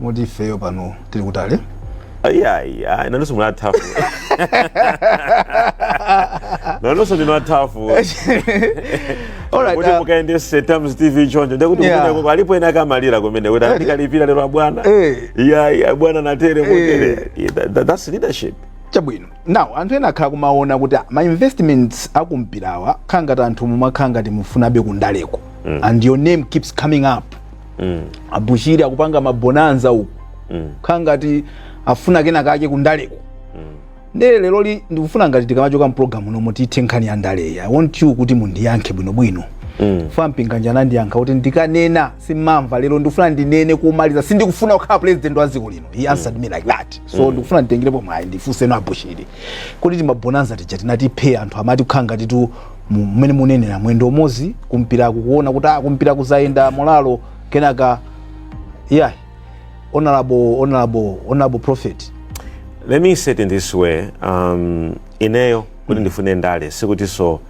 moti ifeyo pano tili kutali iyayi ayi nanonso muli a tough nanunso ndinu a tough Alright, kuti uh, mukayendese Times TV choncho ndekuti Yeah. kumeneko alipo ena akumalira kumene kuti andikalipira lero abwana Eh. iyayi abwana natere mutere Yeah, that- that- that's leadership chabwino now anthu ena akhala akumaona kuti ah, ma investments akumpirawa kukhala ngati anthu mumakhala ngati mufunabe kundaleko and your name keeps coming up mm. abushiri akupanga mabonanza uku mm. kukhala ngati afuna kena kake kundaleko mm. nde lero li ndikufuna kuti tikamachoka m'pulogalamu muno tithe nkhani ya ndaleyi i want you kuti mundiyankhe bwinobwino Mm. Thom Mpinganjira anandiyankha kuti ndikanena simumamva lero ndikufuna ndinene kumaliza sindikufuna kukhala president wa dziko lino he answered me like that so mm. ndikufuna nditengerepo mwayi ndifunsenso abushiri kuti timabonanza tija tinatipweteka anthu amati kukhala ngati tu mmene munenera mwendo umodzi kumpiraku kuona kuti ah, kumpira kuzayenda molalo kenaka yeah honorable honorable honorable prophet let me say it in this way um, ineyo kuti mm. ndifune ndale sikutiso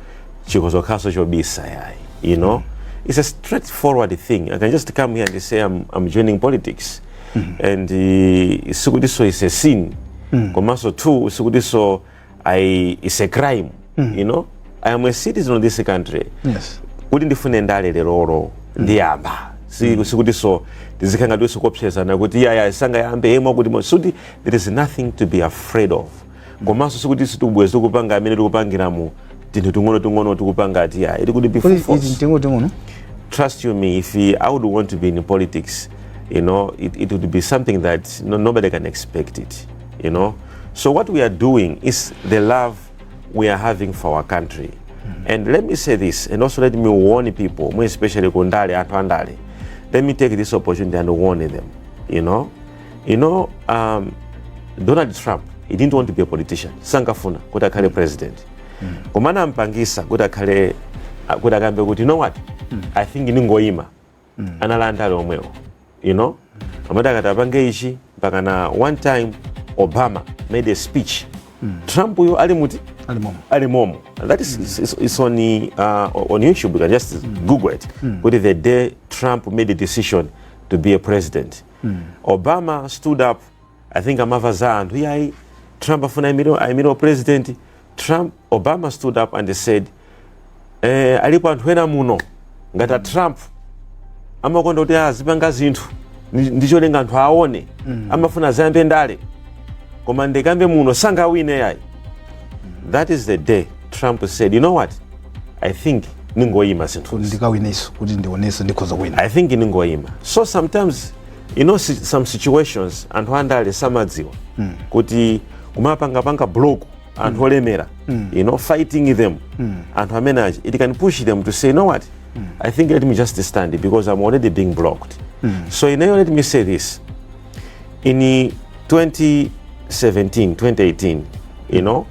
chikozokhaso chobisa yayi you know mm. it's a straightforward thing i can just come here and say i'm, I'm joining politics mm -hmm. and uh, sikutiso is a sin mm. komanso two sikutiso I, it's a crime mm. you know I am a citizen of this country yes. kuti ndifune ndale lerolo mm. ndiyamba mm. sikuti so tizikhala ngatinso kuopsezana kuti iyayi sangayambe yemwe kuti suti there is nothing to be afraid of mm. komanso sikuti sitikubweza tikupanga amene tikupangira mu tinthu ting'ono ting'ono tikupanga ati iyayi ili kuti before trust you me if I would want to be in politics you know it, it would be something that no, nobody can expect it you know so what we are doing is the love we are having for our country mm-hmm. and let me say this and also let me warn people more especially kundale anthu andale let me take this opportunity and warn them you know you know um, donald trump he didn't want to be a politician sankafuna kuti akhale president mm. koma anampangisa kuti akhale kuti akambe kuti you know what mm. i think ndingoyima mm. anali andale omwewo you know amati akati apange ichi mpaka na one time obama made a speech mm. trump uyo ali muti ali momo that is, is, is, is on, uh, on youtube you can just mm. google it mm. kuti the day trump made a decision to be a president mm. obama stood up I think amava za anthu iyayi Trump afuna aimire u president Trump Obama stood up and said eh, alipo anthu ena muno ngati a Trump amakonda kuti azipanga zinthu ndi- ndicholinga anthu aone amafuna adzayambe ndale koma ndikambe muno sangawine iyayi that is the day Trump said you know what I think ningoyima zinthu kuti ndikawineso kuti ndionetse ndikhoza kuwina I think ningoyima so sometimes you know si- some situations anthu andale samadziwa kuti kumapangapanga block anthu olemera you know fighting them anthu amene achi it can push them to say you know what i think let me just stand because i'm already being blocked so ineyo let me say this in 2017 2018 you know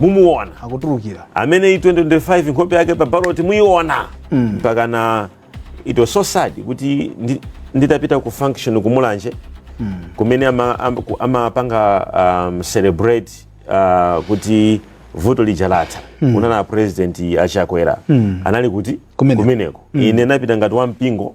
mumuona akutulukira ameneyi 2025 nkhope yake pa ballot muiona mpaka na it was so sad kuti ndi- nditapita ku function kumulanje kumene ama- am- ku- amapanga um, celebrate uh, kuti vuto lija latha kunali a president a Chakwera anali kuti Kumeneko. kumeneko ine ndinapita ngati wampingo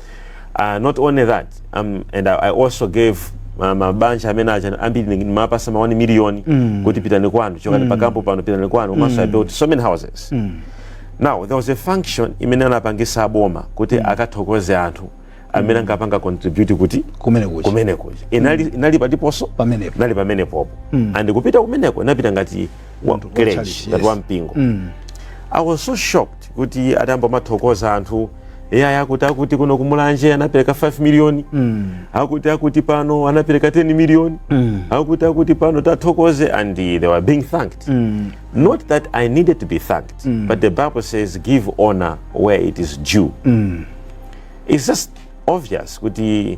uh, not only that um, and I, I also gave ma- mabanja amene aja ambiri ndimawapatsa ma 1 million mm. kuti pitani kwanu chokani mm. pakampo pano pitani kwanu komanso mm. i built so many houses mm. now there was a function imene anapangisa aboma kuti mm. akathokoze anthu amene anapanga contribute kuti kumene kuchi kumene kuja inali, inali pati ponso Pamenepo. inali pamenepopo mm. and kupita kumeneko ndinapita ngati wa church, privilege ngati yes. wa mpingo mm. i was so shocked kuti atayamba kumathokoza anthu iyayi akuti akuti kuno kumulanje anapereka 5 miliyoni mm. akuti akuti pano anapereka 10 miliyoni mm. akuti akuti pano tathokoze and they were being thanked mm. not that i needed to be thanked mm. but the bible says give honor where it is due mm. it's just obvious kuti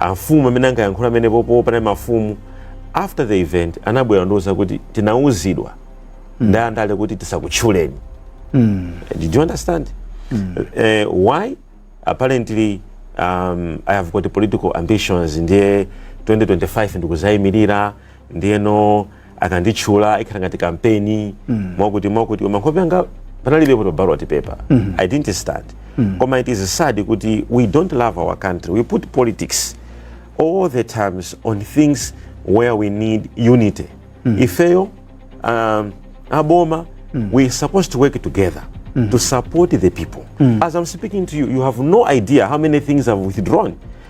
Amfumu amene ankayankhula pamenepo pompa anali mafumu after the event anabwera kundiuza kuti tinauzidwa mm. ndi andale kuti tisakutchuleni mm. do you understand mm. uh, why apparently um, i have got political ambitions ndiye 2025 ndikuzayimirira ndiyeno akanditchula ikhala ngati kampeni mm. mwakuti mwakuti koma nkhope yanga panalibepo to ballot paper mm. i didn't start mm. koma it is sad kuti we don't love our country we put politics all the times on things where we need unity mm. ifeyo um, aboma mm. we supposed to work together mm. to support the people mm. as i'm speaking to you you have no idea how many things i've withdrawn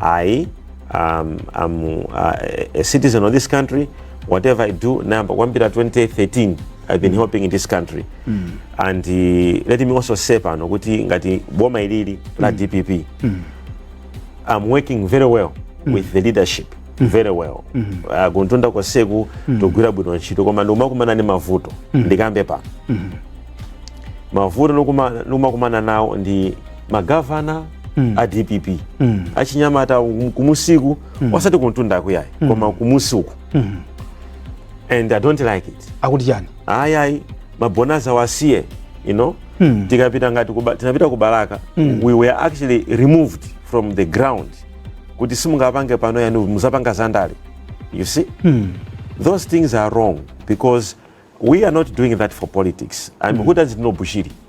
ayi um, I'm uh, a citizen of this country whatever i do nayamba kuyambira 2013 i've been helping in this country and uh, let me also say pano kuti ngati boma ilili la dpp I'm working very well with the leadership very well uh, kumtunda konseku togwira bwino ntchito koma ndikumakumana ndi mavuto ndikambe pano mavuto ndikuma- ndikumakumana nawo ndi magavana mm. a dpp mm. achinyamata kumusiku mm. wasati kumtundaku ayi mm. koma kumusi uku mm. and i don't like it akuti chani ayayi mabonasa wasiye you know mm. tikapita ngati kuba, tinapita ku balaka mm. we were actually removed from the ground kuti simungapange pano ayi muzapanga zandale you see mm. those things are wrong because we are not doing that for politics and mm. who doesn't know bushiri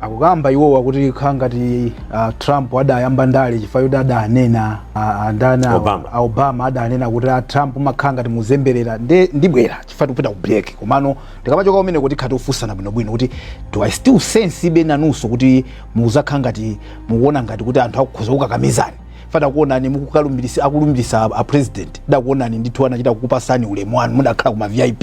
akukamba iwowa kuti kukhala ngati uh, trump adayamba ndale chifukwa yoti adanena uh, andani awa- Obama. a obama adanena kuti a trump umakhala ngati muzemberera nde ndibwerera chifukwa tikupita ku break komano tikamachoka kumeneko tikhala tikufunsana bwinobwino kuti I still sense kuti be nanunso kuti muzakhala ngati mukuona ngati kuti anthu akukhoza kukakamizani paja takuonani mukukalumbirisa akulumbirisa a president dakuonani ndithu anachita kukupasani ulemu wanu mudakhala kuma vip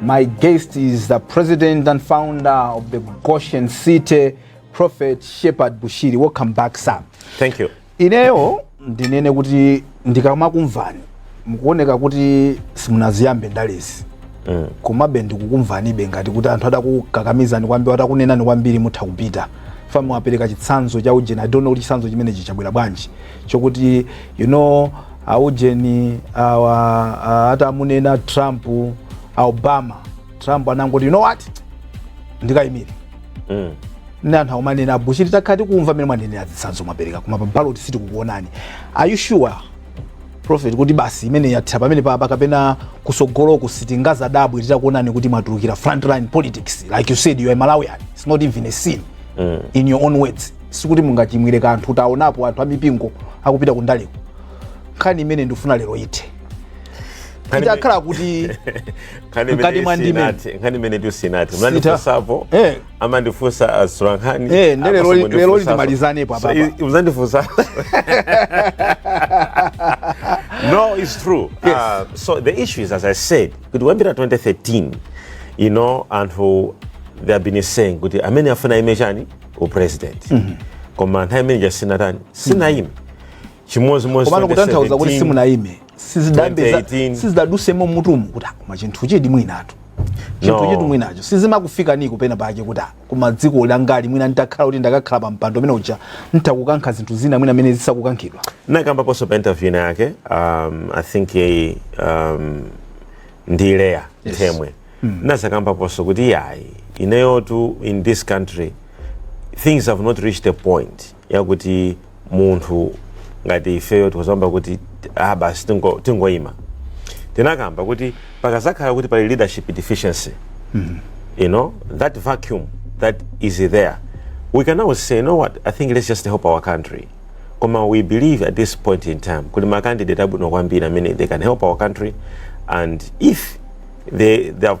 My guest is the president and founder of the Goshen City Prophet Shepherd Bushiri. Welcome back, sir. Thank you. Ineyo ndinene kuti ndikamakumvani mukuoneka kuti simunaziyambe ndalezi mm. komabe ndikukumvanibe ngati kuti anthu atakukakamizani kwambiri atakunenani kwambiri mutha kupita paja mwapereka chitsanzo cha ujeni i don't know kuti chitsanzo chimenechi chabwera bwanji chokuti you know aujeni awa a- atamunena trump a obama trump anangoti you know what ndikayimire Mm. nde anthu akumanena abushiri takhala tikumva mmene mwanenera zitsanzo mwapereka koma pa ballot sitikukuonani are you sure prophet kuti basi imene yathira pamene papa kapena kusogoloku sitingazadabwe titakuonani kuti mwatulukira frontline politics like you said you are malawian it's not even a sin mm. in your own words sikuti mungachimwire kanthu taonapo anthu amipingo akupita kundaleko nkhani imene ndifuna lero ithe itakhala kuti mkati mwa ndime nkhani imene Times munandifunsapo eh. amandifunsa atolankhani eh, nde leroli timalizanepo apa mzandifunsa no it's true yes. uh, so the issue is as i said kuti kuyambira 2013 you know anthu they have been saying kuti amene afuna ayime chani u president koma nthawi imene ija sinatani sinayime chimodzimodzi komano kutanthauza kuti 2017. simunayime 2018. sizidadutsemo m'mutumu kuti ah, koma chinthu chidi mwinatu chinthu No. chidi mwinacho sizimakufikaniko penapake kuti ah, koma dziko langali mwina nditakhala kuti ndakakhala pa mpando umene uja nditha kukankha zinthu zina mwina mmene zisakukankhidwa nakambaponso pa interview ina yake um, i think ye um, ndi leya yes. themwe mm. nazakambaponso kuti iyayi ineyotu in this country things have not reached a point yakuti munthu ngati ifeyo tikuzamba kuti ah basi tingo- tingoyima tinakamba kuti pakazakhala kuti pali leadership deficiency you know that vacuum that is there we can always say you know what i think let's just help our country koma we believe at this point in time kuli ma candidate abwino kwambiri amene they can help our country and if they, they have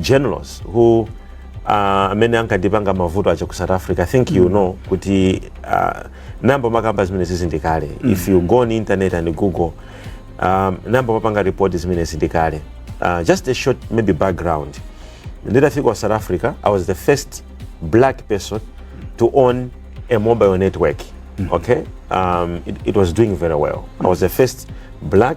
generals who uh, amene ankandipanga mavuto aja ku south africa i think mm. you know kuti uh, nayamba kumakamba zimenezizi ndi kale mm. if you go on internet and google um, nayamba kumapanga report zimenezi ndi kale uh, just a short maybe background nditafika ku south africa i was the first black person to own a mobile network mm. okay um, it, it was doing very well i was the first black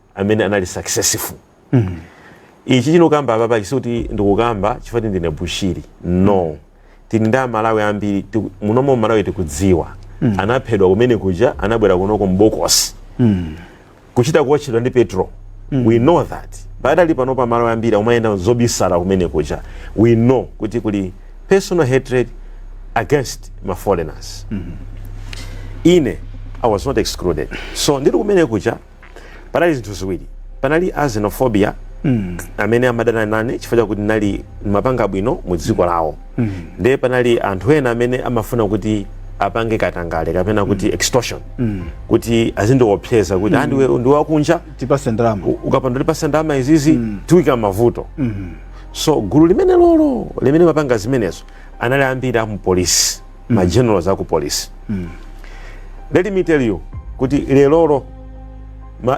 amene anali successful mm. ichichi ndikukamba apapa sikuti ndikukamba chifukwa ndine bushiri no tili ndi amalawi ambiri muno m'malawi tikudziwa mm. anaphedwa kumene kuja anabwera kunoko m'bokosi mm. kuchita kuwotchedwa ndi petrol mm. we know that pakadali panopa amalawi ambiri akumayenda zobisala kumene kuja we know kuti kuli personal hatred against ma foreigners mm -hmm. ine i was not excluded so ndiri kumene kuja panali zinthu ziwiri panali a xenophobia mm. amene amadana nane chifukwa chakuti ndinali ndimapanga bwino mu dziko lawo mm. ndiye panali anthu ena amene amafuna kuti apange katangale kapena kuti mm. extortion mm. kuti azindiopseza kuti mm. ah, ndiwe wakunja tipatse ndalama ukapanda kutipatsa ndalama izizi mm. tikuika m'mavuto mm. so gulu limenelolo limene limapanga zimenezo anali ambiri a mupolisi ma generals aku police mm. let me tell you kuti lerolo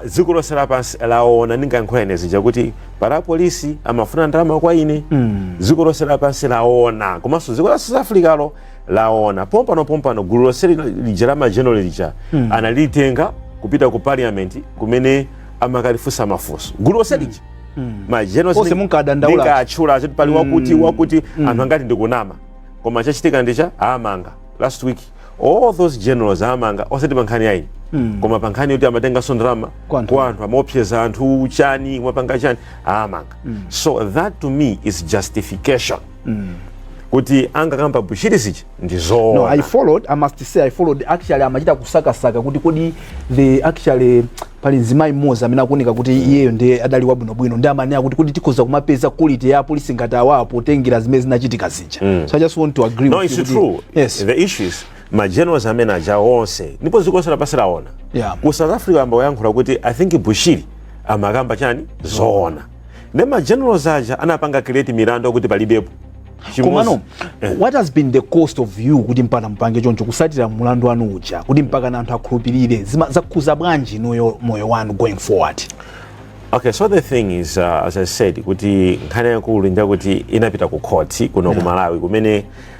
dziko lonse lapansi laona ndinkayankhula ine zija kuti pali apolisi amafuna ndalama kwa ine mm. dziko lonse lapansi laona komanso dziko la south africa lo laona pompano pompano gulu lonse lija la mageneral lija mm. analitenga kupita ku parliament kumene amakalifunsa mafunso gulu lonse lija mm. mageneral onse ndinkadandaula ndinkatchula pali wakuti mm. wakuti mm. anthu ankati ndikunama koma chachitika ndi chakuti awamanga last week all those generals awamanga osati pa nkhani yayi mm. koma pa nkhani yoti amatenganso ndalama kwa anthu amaopseza anthu chani kumapanga chani awamanga mm. so that to me is justification mm kuti angakamba bushiri izichi ndi zoona no, i followed i must say i followed actually amachita kusakasaka kuti kodi the actually pali mzimayi mmodzi amene akuoneka kuti iyeyo ndiye adali wabwinobwino ndiye amanena kuti kuti tikhoza kumapeza quality ya apolisi ngati awawo potengera zimene zinachitika zija mm. so i just want to agree no, with it's you true. yes the issue is magenerals amene aja onse ndipo dziko lonse lapansi laona yeah. ku south africa ayamba kuyankhula kuti i think bushiri amakamba chani zoona ne ma generals aja anapanga create milandu kuti palibepo komano eh. what has been the cost of you kuti mpaka mupange choncho kutsatira mulandu wanu uja kuti mpakana anthu akhulupirire zakhuza bwanji inuyo moyo wanu going forward Okay, so the thing is, uh, as I said, kuti nkhani yaikulu njakuti inapita ku court kuno yeah. ku Malawi kumene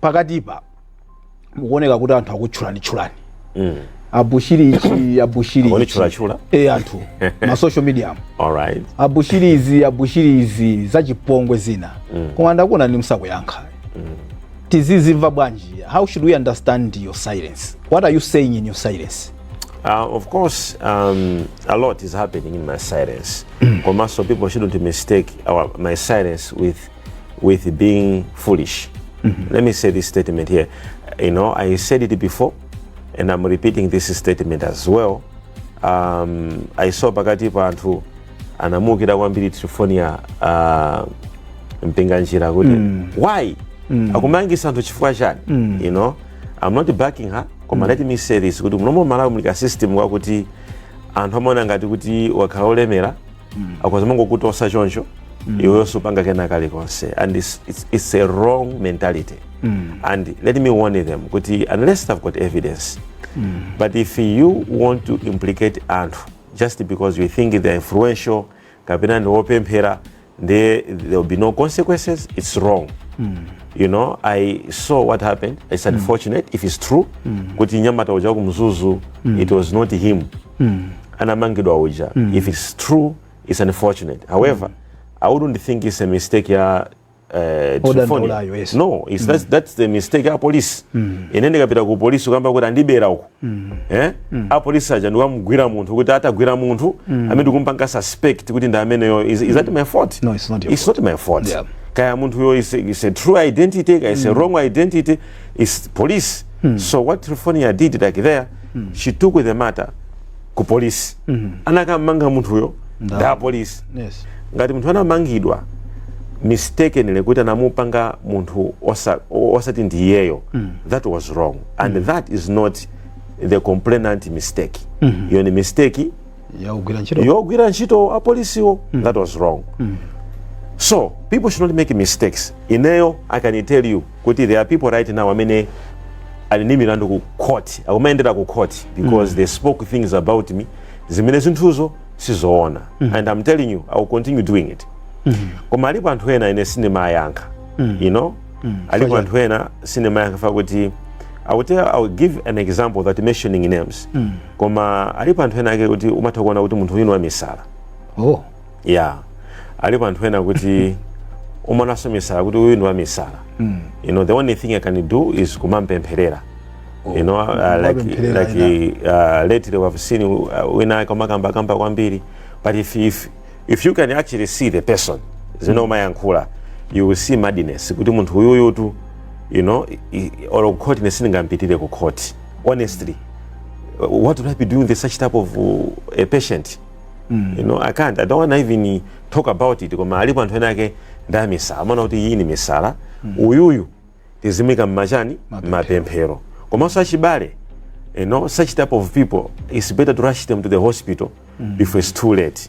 pakatipa mukuoneka kuti anthu akutchulani tchulani mm. abushiri ichi abushiri abushiriichulachula e eh, anthu ma social media alright abushiri izi abushiri izi zachipongwe zina mm. koma ndakuonani musakuyankha mm. tizizimva bwanji how should we understand your silence what are you saying in your silence Uh, of course, um, a lot is happening in my silence. Mm. Komaso, people shouldn't mistake our, my silence with with being foolish. Mm -hmm. Let me say this statement here. You know, I said it before, and I'm repeating this statement as well. Um, I saw pakati pa anthu anamuukira kwambiri Triephornia uh, Mpinganjira kuti mm. why mm. akumangisa anthu chifukwa chani mm. you know I'm not backing her koma mm. let me say this kuti muno mMalawi muli ka system kakuti anthu amaona ngati kuti ukakhala olemera mm. akhoza mangokutosa choncho mm. iweyo supanga kena kalikonse and it's, it's, it's a wrong mentality mm. and let me warn them kuti unless they've got evidence mm. but if you want to implicate anthu just because you think they're influential kapena ndi wopemphera there will be no consequences it's wrong mm. you know i saw what happened it's unfortunate mm. if it's true mm. kuti nyamata uja kumzuzu mm. it was not him mm. anamangidwa uja mm. if it's true it's unfortunate however mm. i wouldn't think it's a mistake ya uh, yes. no it's, mm. that's, that's the mistake ya police mm. ine ndikapita ku polisi kukamba kuti andibera uku mm. eh? mm. a polisi aja ndikumugwira munthu kuti atagwira munthu mm. amene ndikumpanga suspect kuti ndi ameneyo is, is that mm. my fault no, it's not, your it's fault. not my fault yeah. kaya munthuyo is, is a true identity kaya is mm. a wrong identity is police mm. so what Triephornia did like there mm. she took the matter ku police mm. anakammanga munthuyo ndi a police yes. ngati munthu anamangidwa mistakenly kuti anamupanga munthu osati osa ndi iyeyo mm. that was wrong and mm. that is not the complainant mistake mm -hmm. iyo ni mistake yogwira ntchito yogwira ntchito apolisiwo mm. that was wrong mm. so people should not make mistakes ineyo i can tell you kuti there are people right now amene ali ndi milandu ku court akumayendera ku court because mm. they spoke things about me zimene zinthuzo sizoona mm. and i'm telling you i will continue doing it mm. koma alipo anthu ena ine sindimayankha mm. you know mm. alipo anthu ena sindimayankha fa kuti i will, tell, I will give an example that mentioning names mm. koma alipo anthu ena ake kuti umatha kuona kuti munthu uyu ndi wamisala oh. ya alipo anthu ena kuti umaonanso misala kuti uyu ndi wamisala mm. you know the only thing i can do is kumampempherera oh. you know uh, like, like uh, lately we have seen uh, wina ake umakambakamba kwambiri but if, if, if you can actually see the person zimene hmm. umayankhula you will see madness kuti munthu uyuyutu you know olo kukhoti ine sindingampitire kukhoti honestly what would I be doing with such type of uh, a patient? Mm. You know, I can't. I don't want to even talk about it. Koma alipo anthu ena ake ndi amisala. Amana kuti iyi ni misala. Mm. Uyuyu tizimika mmachani mapemphero. Komanso achibale. You know, such type of people, it's better to rush them to the hospital mm. before it's too late.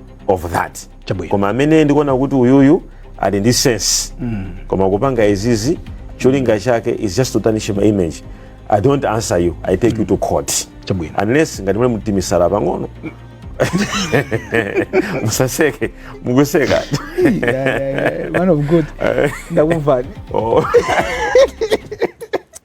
of that Chabwino. koma amene ndikuona kuti uyuyu ali ndi sense koma akupanga izizi cholinga chake is just to tarnish my image i don't answer you i take you to court Chabwino. unless ngati muli ndi timisala pang'ono musaseke mukuseka man of god ndakumvani Oh.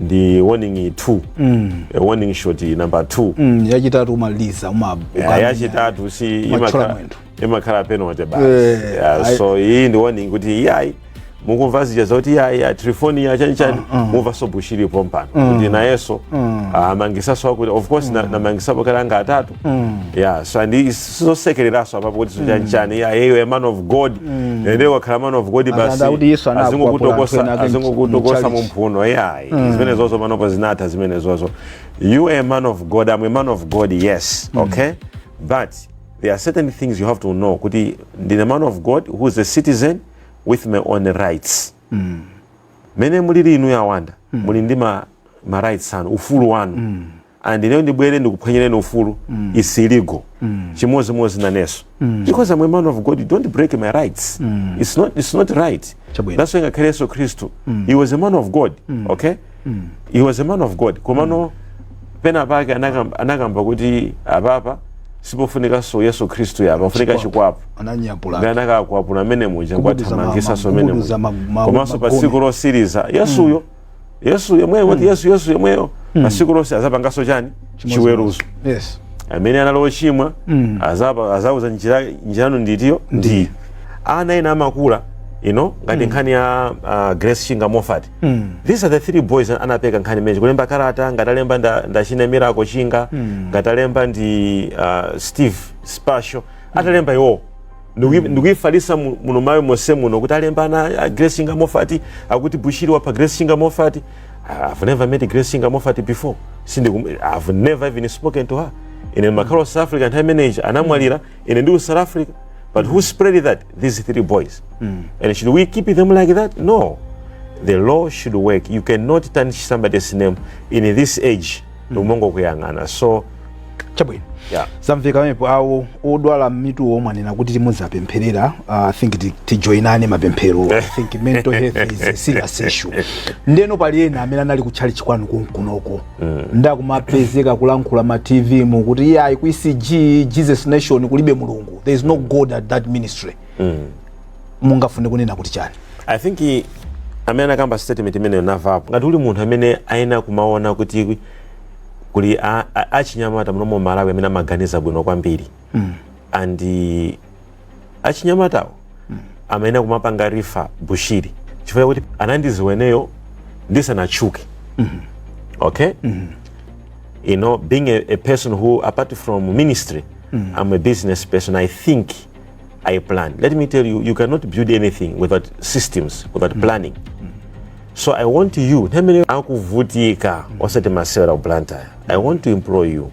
ndi warning 2 mm. e, warning shot number 2 mm, yachitatu umaliza uma yeah, yachitatu si imakhala imakhala penalty basi eh, yeah, I... so iyi ndi warning kuti iyayi mukumva zija zoti iyayi telefoni ya chani chani mm, mm. mumvaso bushiri pompano mm. kuti nayeso mm. amangisaso ah, akuti of course mm. ndinamangisapo kale ana atatu Mm. Yeah, so and sizosekereraso apapo kuti mm. chanchani yeah, hey, a man of god mm. ende wakhala man of god basi azingokutokosa mumphuno yeah mm. zimene zozo panopo zinatha zimene zozo you a man of god i'm a man of god yes mm. okay but there are certain things you have to know kuti ndine man of god who is a citizen with my own rights mm. mmene mulili inu a Banda mm. muli ndi ma, ma rights anu ufulu wanu mm. and ineyo ndibwere ndikuphwanyireni ufulu mm. is illegal mm. chimodzimodzi naneso mm. because I'm a man of God you don't break my rights mm. it's, not, it's not right Chabwino. that's why ngakhale yesu khristu mm. he was a man of God mm. okay mm. he was a man of god komano mm. pena pake anakamba, anakamba kuti apapa sipofunikanso yesu khristu apa pofunika chikwapu nde anakakwapula amene muja kuwathamangisanso amene muja komanso pa tsiku losiriza yesuyo mm. yesu yemweyo kuti mm. yesu yesu yemweyo mm. pa tsikulo azapanganso chani chiweruzo amene anali ochimwa mm. azauza njira yanu ndi iyo ndiye ana ena amafala muno ngati nkhani ya uh, grace chinga moffat Mm. these are the three boys an- anapeka nkhani imene ija kulemba karata ngati alemba nda- ndi achina miracle chinga Mm. ngati alemba ndi uh, steve spesho atalemba iwowo Ndikuyi- ndikuyifalisa mu- muno malawi monse muno kuti alemba ana a grace chinga moffat akuti bushiri wapha grace chinga moffat i've never met grace chinga moffat before Sindikum- i've never even spoken to her ine ndimakhala south africa nthawi imene ija anamwalira ine ndi ku south africa but who spread that these three boys and should we keep them like that no the law should work you cannot tarnish somebody's name in this age umongo kuyang'ana so chabwino yeah. zamveka pamenepo awo odwala mituwo mwanena kuti timuzapempherera uh, i think ti- tijoinane mapemphero i think mental health is a serious issue ndeno pali ena amene anali kutchalitchi kwanu konkunoko mm. ndakumapezeka kulankhula ma tv mu kuti iye ayi ku ecg jesus nation kulibe mulungu there is no god at that ministry mm. mungafune kunena kuti chani i think amene anakamba statement imeneyo navapo ngati kuli munthu amene ayenera kumaona kuti kuli achinyamata muno mu malawi amene amaganiza bwino kwambiri mm. and eh, achinyamatawo mm. amayenera kumapanga rifa bushiri chifukwa kuti anandiziweneyo ndisanachuke mm -hmm. okay mm -hmm. you know being a, a person who apart from ministry mm -hmm. i'm a business person i think i plan let me tell you you cannot build anything without systems without mm -hmm. planning mm -hmm. so i want you nemene akuvutika mm -hmm. osati masewera ku blantyre i want to employ you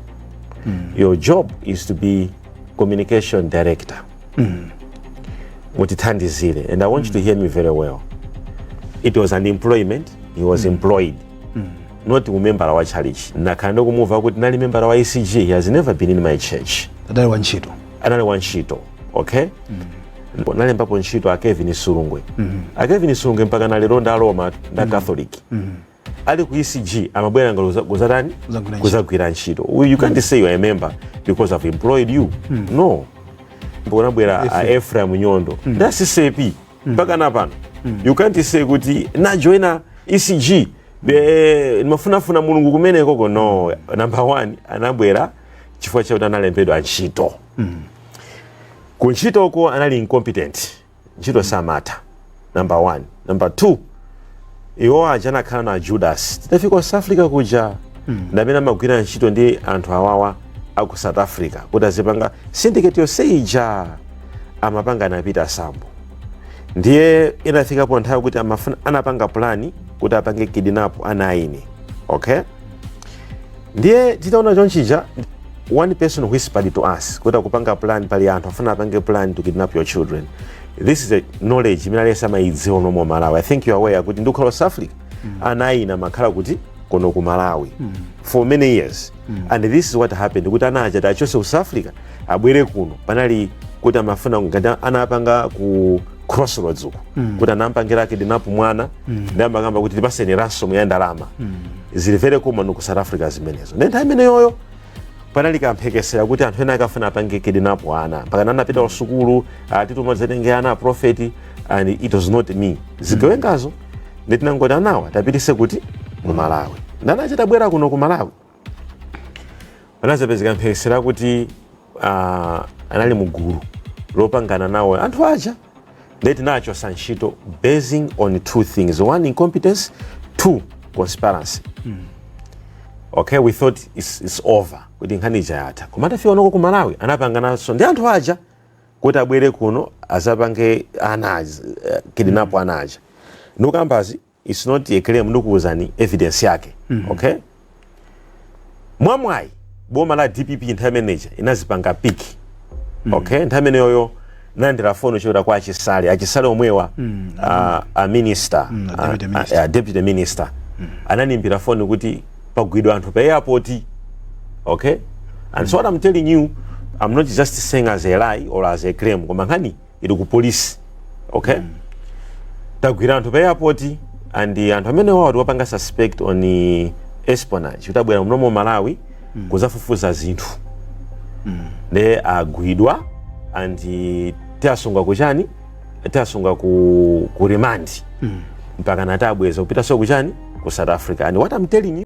mm. your job is to be communication director mm. mutithandizire and i want mm. you to mm. hear me very well it was an employment he was mm. employed mm. not umembala wa chalichi nakhala ndikumuva kuti nali membala wa ecg he has never been in my church adali wa ntchito anali wa ntchito okay mm nalembapo ntchito a kelvin sulugwe mm -hmm. a kelvin sulugwe mpaka nalero nda roma nda mm -hmm. catholic mm -hmm. ali ku ECG amabwera ngalo za- kuzatani Kuzagwira ntchito. kuzagwira ntchito Uyu, you can't say you are a member because I've employed you no mbonabwera a Ephraim Nyondo nda CCAP mpaka na pano you can't say kuti najoina ECG be- ndimafunafuna mulungu kumenekoko no number one anabwera chifukwa chakuti analembedwa ntchito ku ntchitoko anali incompetent ntchito samatha number one number two iwo aja anakhala na judas tidafika ku south africa kuja ndamene amagwira ntchito ndi anthu awawa aku south africa kuti azipanga syndicate yonse ija amapanga ana peter sambo ndiye inafikapo nthawi kuti amafuna anapanga plani kuti apange kidnap ana a ine okay ndiye titaona chonchija one person whispered to us kuti akupanga plan pali anthu afuna apange plan to kidnap your children this is a knowledge imene aliyense amayidziwa muno mu malawi i think you are aware kuti ndikukhala south africa ana a ine amakhala kuti kuno ku malawi for many years and this is what happened kuti ana aja tachose ku south africa abwere kuno panali kuti amafuna ngati anapanga ku crossroads uku kuti anampangira kidnap mwana ndi amakamba kuti tipaseni ransom ya ndalama zili very common ku south africa zimenezo nde nthawi imeneyoyo panali kamphekesera kuti anthu ena akafuna apange kidnap ana mpakana anapita ku sukulu atituma zatenge ana aprofeti and it was not me zigawengazo nde tinangoti anawa tapitise kuti mu malawi nde ana aja atabwera kuno ku malawi panazapezeka mphekesera kuti uh, anali mu gulu lopangana nawo anthu aja nde tinachosa ntchito basing on two things one incompetence two conspiracy mm. okay we thought it's, it's over kuti nkhani ija yatha koma atafika kunoko ku malawi anapangananso ndi anthu aja kuti abwere kuno azapange ana aja eh, kidnap ana aja ndikukambazi, it's not a claim ndikuuzani evidence yake okay mwamwayi boma la dpp nthawi imeneja linazipanga pick okay nthawi imeneyoyo ndinalandira foni yochokera kwa achisale achisale omwewa ah, a minister Mm, a ah, deputy ah, minister. ah, deputy minister anandiimbira foni kuti pagwidwa anthu pa airport okay and so what i'm telling you i'm not just saying as a lie or as a claim koma nkhani ili ku polisi okay mm. tagwira anthu pa airport and anthu amenewa tawapanga suspect on espionage kuti abwera muno mu malawi mm. kuzafufuza zinthu mm. ne agwidwa and tiwasunga kuchani tiwasunga ku, ku remand mm. mpaka tinawabweza kupitaso kuchani ku south africa and what i'm telling you